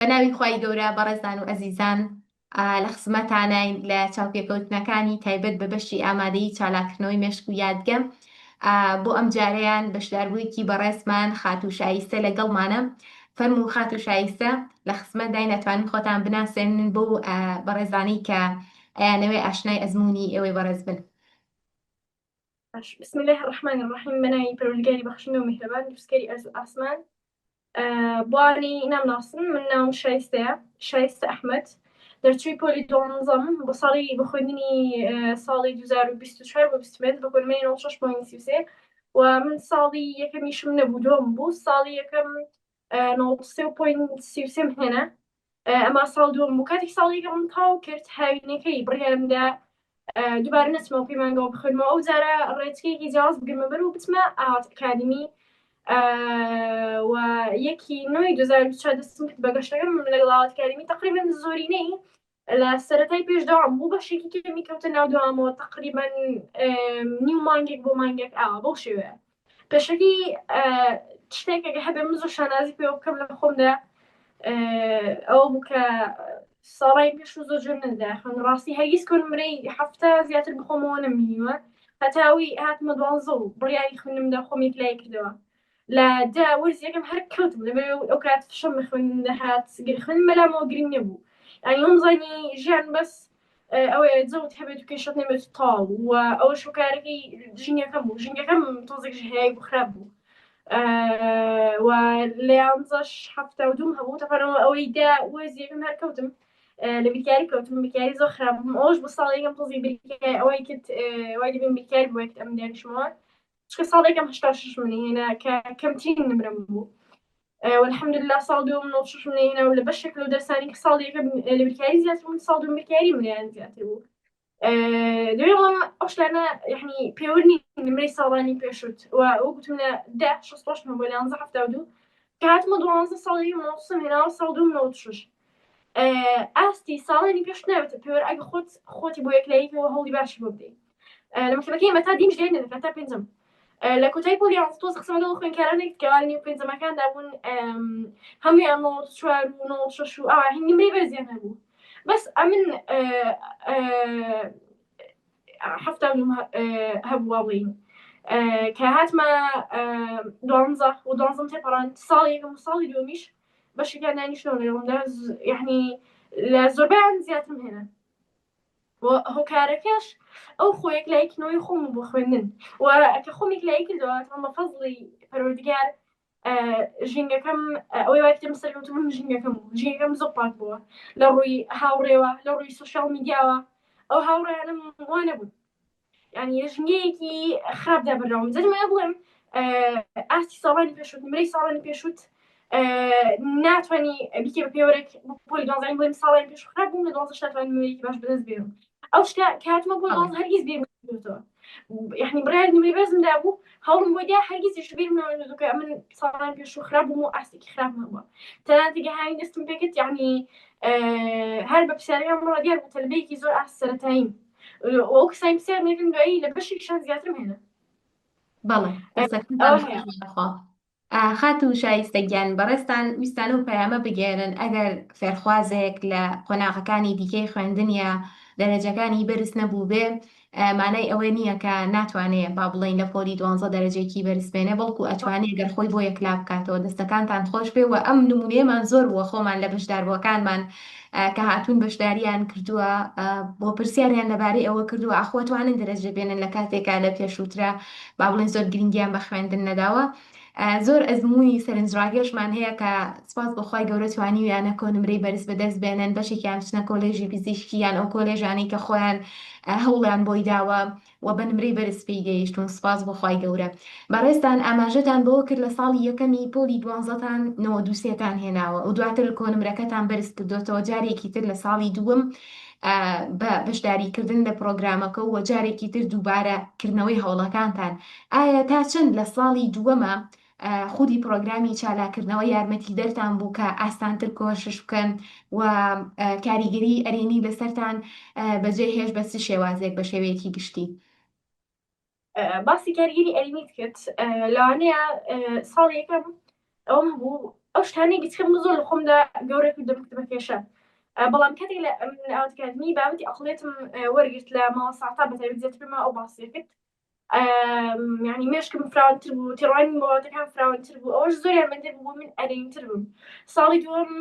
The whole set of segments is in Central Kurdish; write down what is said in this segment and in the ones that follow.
بە ناوی خوای گەورە بەڕێزان و ئەزیزان لە خزمەتاناین لە چاوپێکەوتنەکانی تایبەت بە بەشی ئامادەی چالاکردنەوەی مێشک و یادگە بۆ ئەم جارەیان بەشداربوویەکی بەڕێزمان خاتوو شایستە لەگەڵمانە فەرمو خات و شایستە لە خزمەت دای ناتوانین خۆتان بناسێنن بۆ بەڕێزانەی کە ئەیانەوێ ئاشنای ئەزمموی ئێوەی بەڕێز بن بسم الله الرحمن الرحیم بەناوی پەرۆلگاری بەخشندە و میهرەبان دووسکەری ئەرز و ئاسمان بواری نامناسن من ناوم شایستەیە شایستە ئەحمد دەرچووی پۆلی دوانزەم بۆ ساڵی بە خوێندنی ساڵی 2024 بۆ بستمێت بە گۆرمەی 6.33 و من ساڵی یەکەمیشم نەبوو دۆم بوو ساڵی یەکەم 93.33 هێنا ئەما ساڵ دووەم بوو کاتێک ساڵ یەکەمم تەواو کرد هاوینەکەی بڕیارم دا دووبارە نەچمەوە پەیمانگەوە بخوێنمەوە ئەو جارە ڕێچکەیەکی جیاواز بگرمە بەر و بچمە ئاوات ئەکادمی و یەکی نۆی دوزار چوار دەستم کرد بە گەشتەکەم لەگەڵ ئاوات کاریمی تقریبا زۆرینەی لە سەتای پێش داوام بوو بەشێکی کەمی کەوتە ناو داوامەوە تقریبا نیو مانگێک بۆ مانگێک ئاوا بەو شێوەیە پێشەکی شتێکێک هەبێ من زۆر شانازی پێوە بکەم لە خۆمدا ئەوە بوو کە ساڵی پێش و زۆر جۆر ندا خوێن ڕاستی هەرگیز کۆنمرەی هەفتە زیاتر بخۆمەوە نەمینیوە هەتاوی هاتمە دوانزە و بڕیاری خوێنم دە خۆمی لای کردەوە لە دا وەرزیەکەم هەر کەوت لەبێ ئەو کات فشەم خوێن دەهات گرخن مەلامەوە گرنگ نەبوو ئەنیۆم زانی ژیان بەس ئەوە زەوت هەبێت و کێشت نەبێت تاڵ و ئەوە شوکارەکەی ژنگەکەم بوو ژنگەکەم تۆزێک هەیە بوو خراپ بوو و لە یانزەش هەفتا و دوم هەبوو تەپەرەوە ئەوەی دا وەزیەکەم هەر کەوتم لە بیرکاری کەوتم بکاری زۆر خراپ بووم ئەوش بە ساڵێکم تۆزی بیرکاری ئەوەی کرد وای دەبین بیرکاری بووێت ئەم دانیشمەوە چکە ساڵێکم هشتا شش منی هێنا کە کەمترین نمرم بوو والحمدللە ساڵ دووەم نۆ شەشم نەهێنا و لە بەشێک لەو دەرسانی کە ساڵ یەکەم لە بیرکاری زیاتر بوون ساڵ دووەم بیرکاری منیان زیاتر بوو دوێ بەڵام ئەو شتانە یعنی پێوە نین نمرەی ساڵانی پێشوت و ئەو گوتم لە دە شەست پۆشت بۆ لە یانزە هەفتا و دوو کە هاتمە دوانزە ساڵی مۆسم هێناوە ساڵ دووم نەوەت شش ئاستی ساڵانی پێش ناوێتە پێوەر ئەگە خۆت خۆتی بۆ یەکلاییتەوە هەوڵی باشی بۆ بدەیت لە مەکتەبەکەی مەتا دیم ژێر نرخە تا پێنجم لە کۆتای پۆلی تۆز قسم لەگەڵ خوێنکارانێک کەوانی و پێنجەمەکاندا بوون هەمویان نۆ چوار و نۆ شەش و ئاوا هەنگی مری بەرزیان هەبوو بەس ئەمن هەفتا هەبووە بڵین کە هاتمە دوانزە و دوانزم تێپەڕان ساڵی یەکەم ساڵی دومیش بەشەکان دانیشتەوە لەگەڵمدا یعنی لە زۆربیان زیاترم هێنا و هۆکارەکەش ئەو خۆ یەکلاییکردنەوەی خۆم و بۆ خوێندن و کە خۆم یەکلایی کردەوە تەڵ بە فەزڵی پەروەردگار ژینگەکەم ئەوەی وای کردم سەرکەوتن بووم ژینگەکەم بوو ژینگەکەم زۆر پاک بووە لە ڕووی هاوڕێوە لە ڕووی سۆشیاڵ میدیاوە ئەو هاوڕێیانم وا نەبوون یعنی لە ژنگەیەکی خراپدا بەردەوام جەنی وایە بڵێم ئاستی ساڵانی پێشوت نمرەی ساڵانی پێشوت ناتوانانی بیکە بە پێوەرێک پۆلی دوازانی بڵێم ساڵانی پێش خراپ بووم لە دوازە شاتوان نمرەیەکی باش بەدەست بێرم ئەو شتە کاتمە بۆ دوازە هەرگیز بێتەوە یعنی بڕیار نمرە بەزمدا بوو هەوڵم بۆ دیا هەرگیزیش بێرم ناوەکە من ساڵانی پێش و خراپ بووم و ئاستێکی خراپ هەبووە تەنانتیگە هاوی دەستم پێکرد یعنی هەر بە پسیارەکان بڕە دیار بوو تەلبەیەکی زۆر ئاست سەرەتاییم وەو کەسانی پرسیار مێکن دوایی لە بەشێکیشان زیاترم هێنا بەڵێ خاتو شایستە گیان بەڕێستان ویستانە و پەیامە بگێرن ئەگەر فێرخوازێک لە قۆناغەکانی دیکەی خوێندنیە دەرەجەکانی بەرز نەبوو بێ مانای ئەوە نییە کە ناتوانێت با بڵین لە پۆلی دوانزە دەرەجێکی بەرزبێنێ بەڵکو ئەتوانێت گەر خۆی بۆ یەکلا بکاتەوە دەستەکانتان خۆش بێ و ئەم نمونێمان زۆر بووە خۆمان لە بەشداربووەکانمان کە هاتوون بەشداریان کردووە بۆ پرسیاریان لەبارەی ئەوە کردووە ئاخۆ توانن دەرەجە بێنن لە کاتێکا لە پێشووترا با بڵێن زۆر گرنگیان بە خوێندن نەداوە زۆر ئەزمموی سەرنجڕاگەشمان هەیە کە سپاس بەخوای گەورە توانیویانە کۆنمرەی بەرز بەدەست بێنن بەشێکیان بچنە کۆلێژی پزیشکیان ئەو کۆلێژانەی کە خۆیان هەوڵیان بۆی داوە وە بە نمرەی بەرز پێی گەیشتون سوپاس بۆ خوای گەورە بەڕێزتان ئاماژەتان بەوە کرد لە ساڵی یەکەمی پۆلی دوانزەتان نەوەد و سێ تان هێناوە و دواتر کۆنمرەکەتان بەرز کردۆتەوە جارێکی تر لە ساڵی دووەم بە بەشداری کردن لە پرۆگرامەکە و جارێکی تر دووبارە کردنەوەی هەوڵەکانتان ئایا تا چەند لە ساڵی دووەمە خودی پڕۆگرامی چالاکردنەوە یارمەتیدەرتان بوو کە ئاستانتر کۆشش بکەن و کاریگەری ئەرێنی لەسەرتان بەجێ هێش بە چ شێوازێک بە شێوەیەکی گشتی؟ باسی کاریگەری ئەرێنیت کرد لەوانەیە ساڵ یەکەم ئەوم بوو ئەو شتانەی گچکەم زۆر لە خۆمدا گەورە کردم کردمە کێشە بەڵام کاتێک لە ئاوتکردنی بابەتی ئەقلێتم وەرگرت لە ماوە ساعتا بەتەویزیێت پێما ئەو باسی کرد یعنی مێشکم فراوانتر بوو تێڕوانی مۆڵاتەکان فراوانتر بوو ئەوەش زۆر یارمەندر بوو من ئەرینتر بووم ساڵی دووەم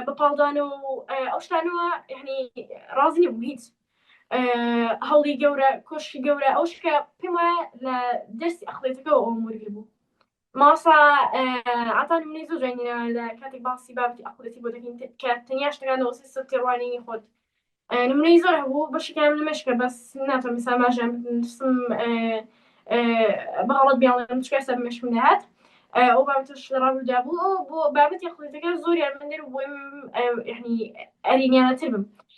بە پاڵدانە و ئەو شتانەوە یعنی ڕازنی بوو هیچ هەوڵی گەورە کۆشکی گەورە ئەو شکە پێم وایە لە دەستی ئەخڵێتەکەەوە ئەو مورگی بوو مامۆستا عەتا نمونەی زۆر جوانی ناوە لە کاتێک باسی بابەتی عەقڵیەتی بۆ دەکەین کە تەنیا شتەکان لە وەسفی سفتی ڕوانینی خۆت نمونەی زۆر هەبوو بەشێکیان لە مێشکە بەس ناتوانم ئێستا ئاماژەیان بدەم دەستم بە هەڵە بیاڵێم چکە ئێستا بە مێشکم دەهات ئەو بابەتەش لە ڕابرودا بوو بۆ بابەتی عەقڵیەتەکە زۆر یارمەندەر و بۆم یعنی ئەرینیانەتر بم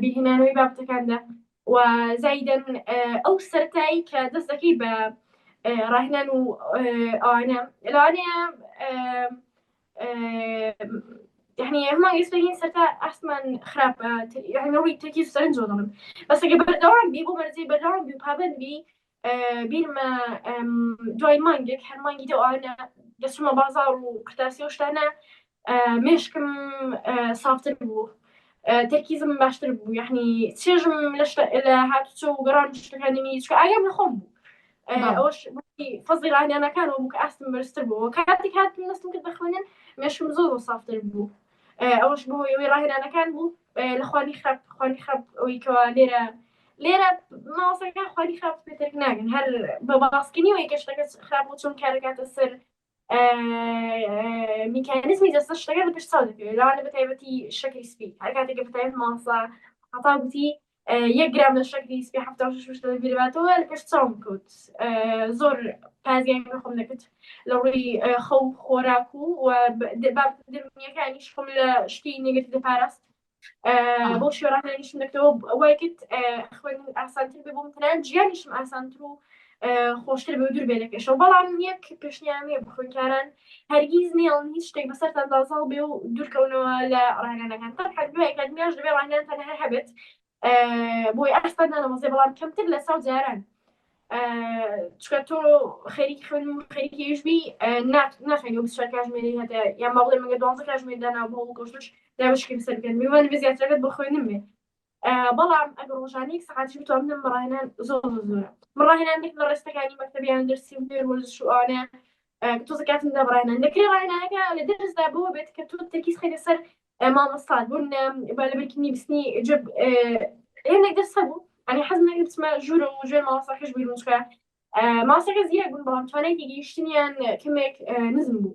بیرهێنانەوەی بابەتەکاندا و زایدەن ئەو سەرتایی کە دەست دەکەی بە ڕاهێنان و ئەوانە لەوانەیە یعنی هەمان ئێستاین سەرتا ئاسمان خراپە یعنی ڕووی تەکی سەرنج زۆڵم بەسەگە بەردەوام بی بۆ مەرزی بەردەوام بی پابند بی بیرمە دوای مانگێک هەر مانگی دەوانە دەچمە بازار و قرتاسی و شتانە مێشکم سافتر بوو تەرکیزم باشتر بوو یعنی چێژم لە هاتوچە و گەڕان شتەکانیمی چکە ئاگام لە خۆم بوو ئەوش فەزی ڕانیانەکان و بووکە ئاستم بەرزتر بوو کاتێک هاتم نستم کرد بەخوێنن مێشکم زۆر و سافتر بوو ئەوەش بۆ ئەوەی ڕاهێنانەکان بوو لە خوانی خراپ خوانی خراپ ئەوەی کەوا لێرە لێرە ماوەسەکان خوانی خراپ پێتەک ناگەن هەر بە باسکردنی وەی گەشتەکە خراپ و چۆن کارەکاتە سەر میکانزمی دەستە شتەکە لە پێش چاو دەکەوێت لەوانە بە تایبەتی شەکری سپی هەر کاتێکە بە تایبەت ماوەسا هەتا گوتی یەک گرام لە شەکری سپی حەفتا و شەش وشتە دەبیرباتەوە لە پێش چاوم کەوت زۆر پازیان بە خۆم دەکرد لە ڕووی خەو خۆراک و و دەرونیەکانیش خۆم لە شتی نگرت لە پاراست بۆ شێڕانیشم دەکەوە وای کرد خوێن ئاسانتر بێ بۆم تەنان جیانیشم ئاسانتر و خۆشتر بە دوور بێ لە پێشەوە بەڵام یەک پێشنیانێ بخۆنکاران هەرگیز نەیەڵن هیچ شتێک بەسەرتان دا زاڵ بێ و دوورکەونەوە لە ڕاهێنانەکان تەنها دوای ئەکادیمیاش دەبێ ڕاهێنانتان هەر هەبێت بۆی ئاستان نانەوەزێ بەڵام کەمتر لە ساو جاران چکە تۆ خەریکی خوێن و خەریکی یشبی ناخێنی و بچە کاژمێری هەتە یا ماڵێ مەگە دوانزە کاژمێر دانا بۆ گۆشتش دابشکێن سەرکەن میوان بێ زیاترەکەت بۆ خوێنم بێ بەڵام ئەگەر ڕۆژانە یەک سەعاتیش بتوانم لەم ڕاهێنان زۆر زۆرە من ڕاهێنان دێک لە ڕێستەکانی مەکتەبیان دەرسی و نوێر وەرزش و ئەوانە تۆزە کاتم دا ڕاهێنان دەکرێ ڕاهێنانەکە لە دەرسدا بۆ بێت کە تۆ تەرکیز خەیتە سەر مامۆستات بوون با لە بەرکی نیبسنی جب هێندێک دەرس هەبوو ئەنی حەز نەکرد بچمە ژوورە و ژێر مامۆستاکەش بیر بچکە ماسەکە زیرە بوون بەڵام توانێکی گەیشتنیان کەمێک نزم بوو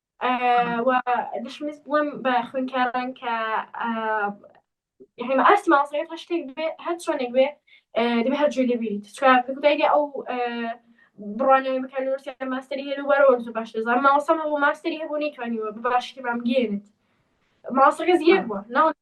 و دشمس بڵم بە خوێنکاران کە یعنی ئاستی مامۆستایان هەر شتێک بێ هەر چۆنێک بێ دەبێ هەر جوێ لێبیریت چکار کودایگە ئەو بڕوانەوەی بکە لۆرسیا ماستری هەر وەرەوە زۆر باش دەزان ماوەسەمە بۆ ماستری هەبوو نەیتوانیوە باشی بامگەێنێت ماسەکە زیێر بووە ناو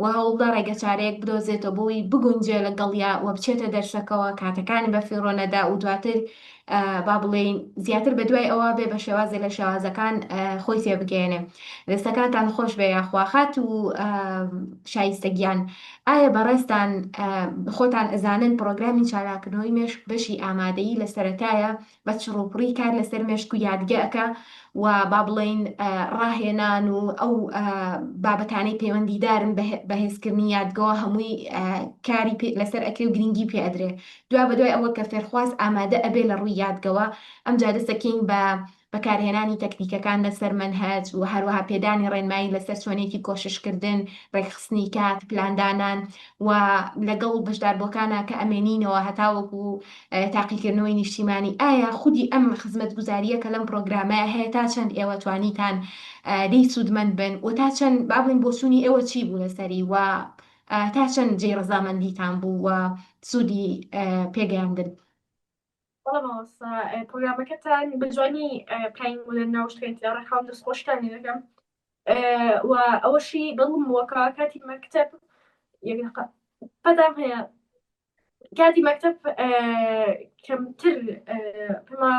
و هەوڵدە ڕێگەچارەیەک بدۆزێتەوە بۆی بگونجێ لەگەڵیا و بچێتە دەرسەکەوە، کاتەکانی بە فیڕۆ نەدا و دواتر با بڵێین زیاتر بە دوای ئەوە بێ بە شێوازێ لە شێوازەکان خۆی تێبگەیەنێ. دەستەکانتان خۆش بێ یاخوا. خاتوو شایستە گیان، ئایا بەڕێزتان خۆتان ئەزانن پڕۆگرامی چالاکردنەوەی مێشک بەشی ئامادەیی لە سەرەتایە بە چڕوپڕی کار لەسەر مێشک و یادگە ئەکا و با بڵێین ڕاهێنان و ئەو بابەتانەی پەیوەندیدارن بە هێزکردنی یادگەوە هەمووی کاری لەسەر ئەکرێ و گرنگی پێ ئەدرێ دوا بەدوای ئەوە کە فێرخواز ئامادە ئەبێ لە ڕووی یادگەوە ئەم جا دەسەکەین بە بەکارهێنانی تەکنیکەکان لەسەر مەنهەج و هەروەها پێدانی ڕێنمایی لەسەر چۆنێکی کۆششکردن ڕێکخستنی کات پلاندانان و لەگەڵ بەشداربووەکانە کە ئەمێنینەوە هەتاوەکو تاقیکردنەوەی نیشتیمانی ئایا خودی ئەم خزمەتگوزارییە کە لەم پڕۆگرامەیە هەیە تا چەند ئێوە توانیتان لێی سوودمەند بن و تا چەند با بڵێین بۆچوونی ئێوە چی بوو لەسەری و تا چەند جێی ڕەزامەندیتان بوو و سوودی پێگەیاندن پرۆگرامەکەتان بە جوانی پلین لە ناوشتێت لە ڕێکخاون دەستخۆشتانی دەکەم و ئەوەشی دڵم بووەکە کاتی مەکتب پەدام هەیە کاتی مەکتب کەمتر پما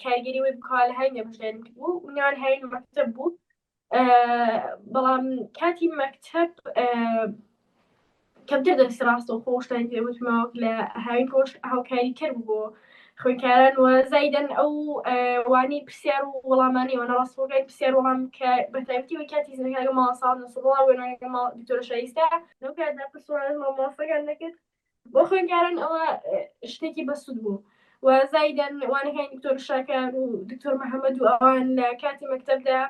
کاریگەری وی بکوا لە هاین نەبژێن بوو نان هاین مەکتب بوو بەڵام کاتی مەکتب کەمتر دەست ڕاستە و خۆشتان پێوتمەوە لە هاوین خۆش هاوکاری کرد بوو خوێندکاران و زایدەن ئەو وانی پرسیار و وەڵامانی وەە ڕاستەکەی پرسیار وەڵام کە بەتایبەتی وە کاتی زنەکە ماڵساڵ نسڵڵا وێنەکە ماڵ دکتۆرە شایستە لەو کاتدا پرسوارە مامۆسەکان دەکرد بۆ خوێندکاران ئەوە شتێکی بەسوود بوو. و زایدەن وانەکانی دکتۆر شاکار و دکتۆر محەممەد و ئەوان لە کاتی مەکتتەبدا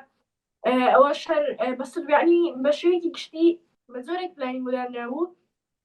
ئەوە شەر بەسوودانی بە شوێکی گشتی بە زۆرێک پلانی بۆدانرا بوو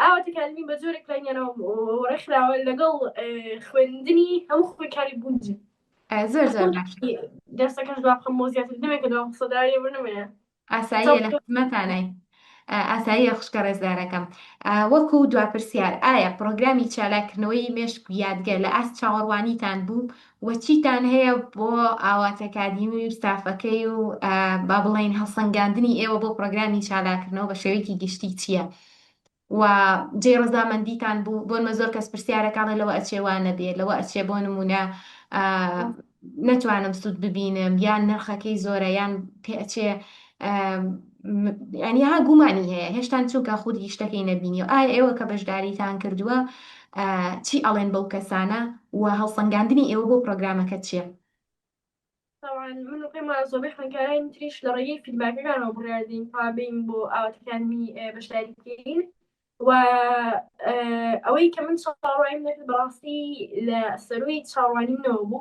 ئاواتەکانمی بە جۆرێک پلانگێناوە و ڕێکخراوە لەگەڵ خوێندنی هەموو خۆی کاری گونج زۆر زۆر دەستەکەش دوام خەم بۆ زیاتر دەمێکە دوام قسەداری بنمێ ئاسایی لە خزمەتانای ئاساییە خوشکە ڕێزدارەکەم وەکو دواپرسیار ئایا پرۆگرامی چالاکردنەوەی مێشک یادگە لە ئاست چاوەڕوانیتان بوو وەچیتان هەیە بۆ ئاواتەکادیمی و ستافەکەی و با بڵین هەڵسەنگاندنی ئێوە بۆ پرۆگرامی چالاکردنەوە بە شێوەیەکی گشتی چییە؟ وە جێی ڕەزامەندیتان بوو بۆنمە زۆر کەس پرسیارەکانڵێ لەوە ئەچێ وانە بێ لەوە ئەچێ بۆ نمونە نەتوانم سوود ببینم یان نرخەکەی زۆرە یان پێچێ ینی ها گومانی هەیە هێشتان چونکە خودی شتەکەی نەبینی و ئایا ئێوە کە بەشداریتان کردووە چی ئەڵێن بەو کەسانە و هەڵسەنگاندنی ئێوە بۆ پرۆگرامەکە چیە؟ تەوان من و پێما زۆبەی خوێنکارانی تریش لە ڕێگەی فیدباکەکانەوە بڕاردین تا بین بۆ ئاواتەکانی بەشداری بکەین و ئەوەی کە من چاڕوایم نەکرد بەڕاستی لە سەروی چاڕوانی منەوە بوو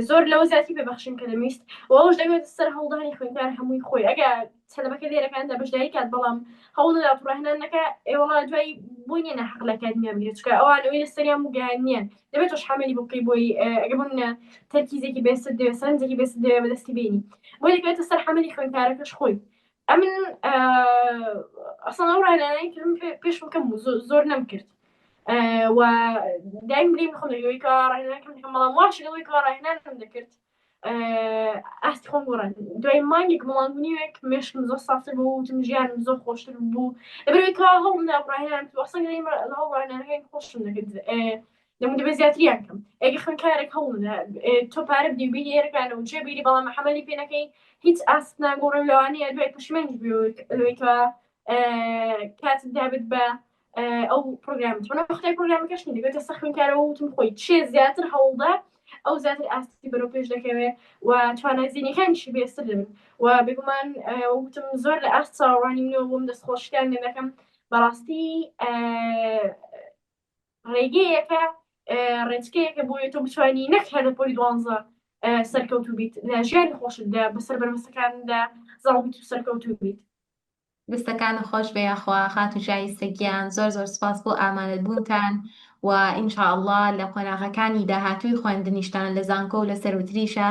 زۆر لەوە زیاتی پێبەخشین کە دەویست وەش دەوێت سەر هەڵدانی خوێنکار هەمووی خۆی ئەگە تەلەبەکە لێرەکان لە بەشداری کات بەڵام هەوڵ نەدات ڕاهێنان نەکا ئێوەڵا دوای بۆی نیە نەحەق لە کات نیە بگرێت چکە ئەوان ئەوەی لە سەریان بگەیان نیە دەبێت تۆش حەمەلی بکەی بۆی ئەگە بمنە تەرکیزێکی بێست دەوێت سەرنجێکی بێست دەوێت بەدەستی بینی بۆی دەکرێتە سەر حەمەلی خوێنکارەکەش خۆی ئەمن ئەسڵ ئەو ڕاهێنانەی کردم پێش بکەم زۆر نەم کرد و دایم بریم خۆم دەگەوەی کە ڕاهێنان کەم بەڵام واش لەوەی کە ڕاهێنان کەم دەکرد ئاستی خۆم گۆڕان دوای مانگێک مڵان نیوێک مێشکم زۆر سافتر بۆ وتم ژیانم زۆر خۆشتر بوو لەبەرەوەی کا هەڵ ناڕاهێنان وەسەنگ هەڵڕانەکەی خۆشم دەکرد لەم دەبێت زیاتریان کەم ئەگە خوێنکارێک هەڵ تۆ پارە بدی بینی ێرەکانە و جێ بیری بەڵام حەمەلی پێەکەی هیچ ئاست ناگۆڕم لەوانەیە دوای پشمێنج لەوەی کە کاتت دابێت بە ئەو پرۆگرام خۆی پرۆگرامەکەش دەبێتە سەخنکارەوە وتم خۆی چێ زیاتر هەوڵدا ئەو زیاتر ئاستی بەرەو پێش دەکەوێت و توانای زیینەکانیشی بێستر دەبن و بگومان وتم زۆر لە ئاست چاوەڕوانی منەوە بۆم دەست خۆشکان دەکەم بەڕاستی ڕێگەیەکە ڕێچکەیەکە بۆیە تۆ بتوانانی نەک هەر لە پۆلی دوانزە سەرکەوتو بیت لە ژیانی خۆشتدا بەسەر بەرمەسەکاندا زاڵبیت و سەرکەوتو بیت دەستەکانت خۆشبێ یاخوا خاتوو شایستە گیان زۆر زۆر سوپاس بۆ ئامادە بوونتان و ان شاء اللە لە قۆناغەکانی داهاتووی خۆێندنیشتان لە زانکۆ و لە سەروتریشا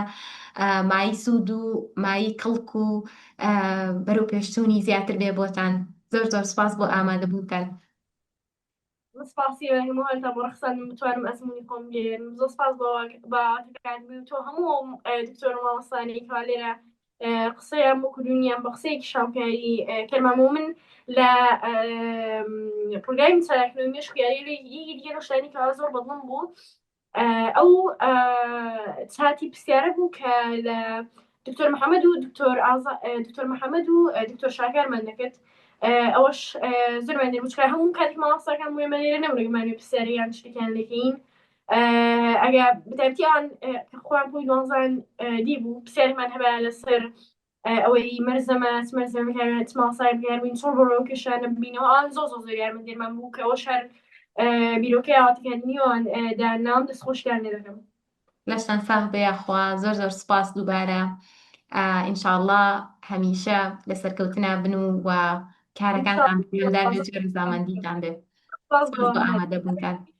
مایەی سوود و مایەی کڵک و بەرەوپێشچوونی زیاتر بێ بۆتان زۆر زۆر سوپاس بۆ ئامادە بوونتان. من سپاسی ئێوەی هەموو هەرتان بۆ ڕەخساندن بتوانم ئەزموونی خۆم بگێرم زۆر سپاس بۆ باواتەکانبی و تۆ هەموو دکتۆر و مامۆستانی کەوا لێرە قسەیان بۆ کردونیان بە قسەیەکی شاپیاری کەمامۆ من لە پرۆگرامی چاکردن مێشکیاری لێ یەکی دیگە شتانی کەوا زۆر بەدڵم بوو ئەو چاتی پرسیارە بوو کە لە دکتۆر محەممەد و دکتۆر دکتۆر محەممەد و دکتۆر شاکارمان دەکرد ئەوەش زۆرمان دەموچکە هەموو کاتی ماوەساکان وێمە لێرە نەمرەگومانی پرسیاریان شتێکیان لەکەین ئەگە بتابتیان خۆیان بووی دوانزان دی بوو پرسیارمان هەبە لەسەر ئەوەی مەرزە ماس مەرزە بهێنە تماڵ سای بهێن وین چۆڵ بەرەوە کەشانە ببینەوە ئەوان زۆ زۆ زۆر یارمە دێمان بوو کە ئەوە شار بیرۆکەی ئاواتکردنیوان دا ناو دەست خۆشیان لێ دەکەم لەشتان ساغ بێ یاخوا زۆر زۆر سپاس دووبارە ئینشاءله هەمیشە لە سەرکەوتنا بن و و کارەکانتان بەجێ زامەندیتان بێ ئامادەبوونتان